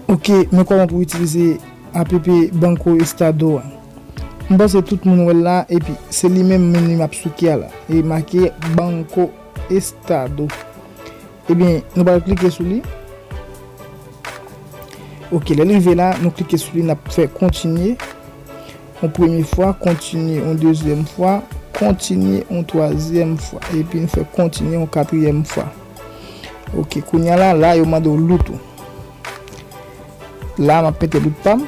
Ok men koman pou itilize app banco estado an m panse tout moun wèl la epi se li menm menm li map souke a la e make banco. Estado. Ebyen, nou pral klike sou li. Ok, lè li rive la, nou klike sou li, n ap fè kontinye. Yon premye fwa, kontinye yon dezyèm fwa, kontinye yon twazyèm fwa. Epi nou fè kontinye yon katriyèm fwa. Ok, kounya la, la yo mande w loot ou. La, m ap mete loot pa m.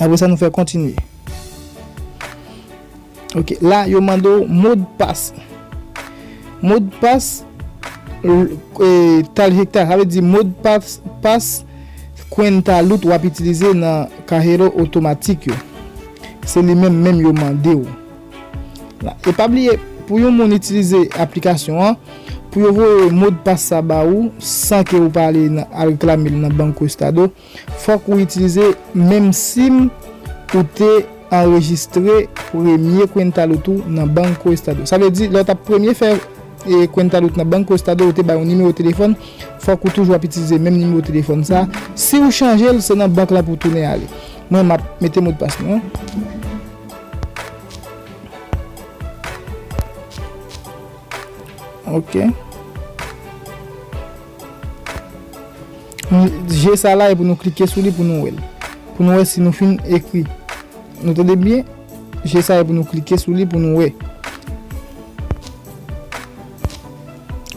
Apre sa nou fè kontinye. Ok, la yo mande ou mod pas. Mod pas e tal hekta. Sa vle di mod pas pas kwenta lout wap itilize nan kahero otomatik yo. Se li menm menm yo mande ou. La, e pa bliye pou yon moun itilize aplikasyon an, pou yo voye mod pas sa ba ou san ke ou pa ale al reklamel nan banco estado. Fòk ou itilize menm sim ou te anrejistre premye Cuentalud ou nan Banco Estado. Sa vle di lè ou tap premye fè Cuentalud nan Banco Estado ou te bay yon nimewo telefòn, fòk ou toujou ap itilize menm nimewo telefòn sa. Si ou chanje l, se nan bank la pou w tounen ale. Mwen map mete modpas mwen an. Ok. Je sa la e pou nou klike sou li pou nou wè l. Pou nou wè si nou fin ekri. Nou tande byen? Je sa e pou nou klike sou li pou nou wè.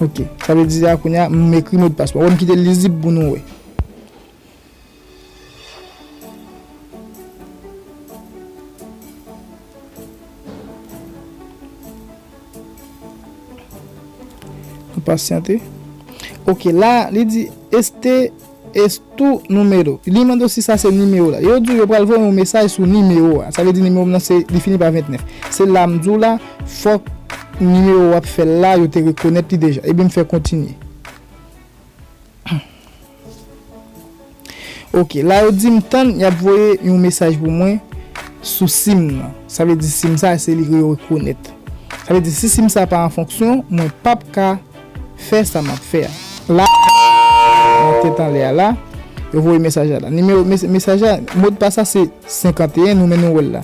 Ok. Sa vle di la kounye a m ekri modpas mwen. Ou wè m kite l lizib pou nou wè. Nou pasyante. Ok la li di este es tu numero. Li mande si sa se nimewo la. Yo di yo pral voye yon mesaj sou nimewo a. Sa vle di nimewo m nan se li fini pa 29. Se la m di w la fòk nimewo w ap fè la yo te rekonèt li deja. Ebyen m fè kontinye. Ok la yo dim tann yap voye yon mesaj pou mwen sou sim nan sa vle di sim sa se li yo rekonèt sa vle di si sim sa pa an fonksyon mwen pap ka fè sa map fè a la nan tèt anlè a la yo voye mesaj la la nimewo mesaj la modpas la se 51 nou menm nou wèl la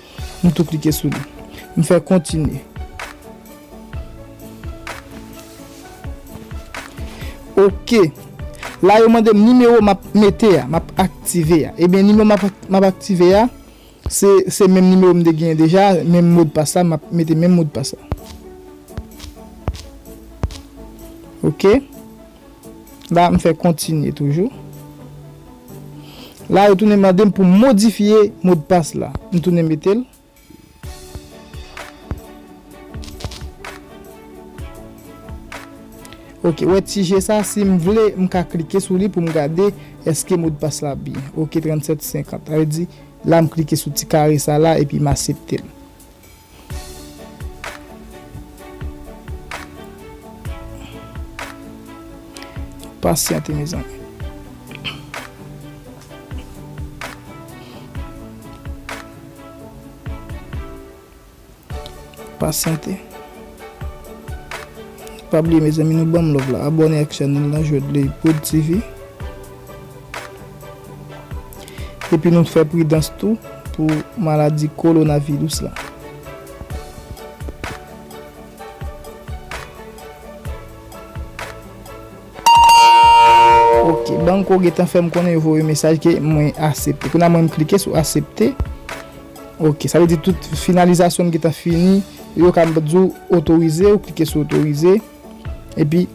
M tou klike sou li. M fè kontinye. Ok. La yo mande m nimewo m ap mete a, m ap aktive a. Ebyen nimewo m ap aktive a, se menm nimewo m te genyen deja, menm modpas la, m ap mete menm modpas la. Ok. La m fè kontinye toujou. La yo tounen mande m pou m modifye modpas la. M tounen mete l. Ok, wè ti je sa si m vle m ka klike sou li pou m gade eske modpas la byen. Ok 3750. Sa vle di la m klike sou ti kare sa la epi m asepte l. Pasyante mezanmi. Pasyante. Pa bliye mezanmi nou banm love la. Abone ak chanel nan Jodley Prod TV. Epi nou fè pridans tou pou maladi kolonavirus la. Ok, banko gentan fèm konnen yo voye mesaj ke mwen asepte. Kounya mwen klike sou asepte. Ok, sa vle di tout finalizasyon m gentan fini. Yo ka m di w otorize, ou klike sou otorize. Epi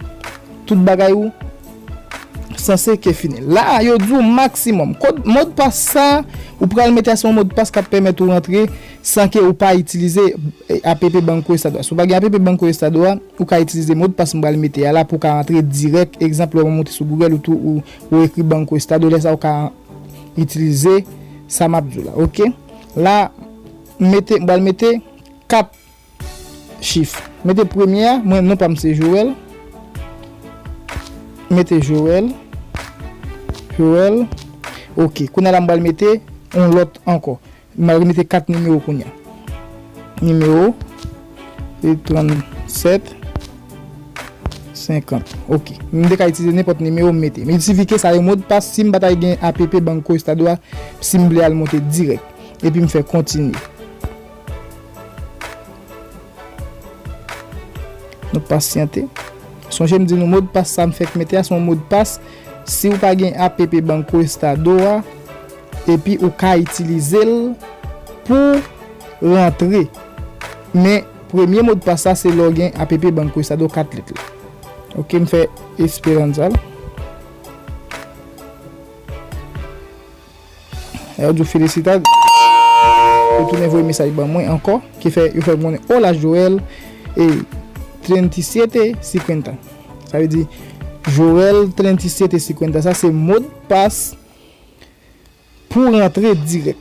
tout bagay ou sanse ke fini. La a yo di ou maksimòm. Kod modpas sa ou pral mete a se yon modpas kap pèmèt ou rantre san ke ou pa itilize app Banco Estado a. Si ou pa gen app Banco Estado a, ou ka itilize modpas m pral mete a la pou ou ka rantre dirèk. Egzanp lè ou moute sou Google ou ekri Banco Estado lè sa ou ka itilize sa map di ou la. Ok. La m mete m pral mete 4. Chif. Mete premye a, mwen non pa m se Joel. Mete Joel. Joel. Ok. Kounye a la m pral mete yon lòt ankò. M pral remete 4 nimewo kounye a. Nimewo. E 37. 50. Ok. M te ka itilize nenpòt nimewo m mete. Miltifike sa yo modpas si m pa ta gen app Banco Estado a si m vle al monte dirèk. Epi m fè kontinye. Nou pasyante. Sonje m di nou modpas sa m fèk mete a se yon modpas si ou pa gen app Banco Estado a epi ou ka itilize l pou rantre men premye modpas la se lè w gen app Banco Estado 4 lèt la ok m fè Esperanza l. Yo diw felisita yo tounen voye mesaj ban mwen ankò ki fè yo fèm konnen oh la Joel e 3750 sa vle di Joel 3750 sa se mod pas pou rantre dirèk.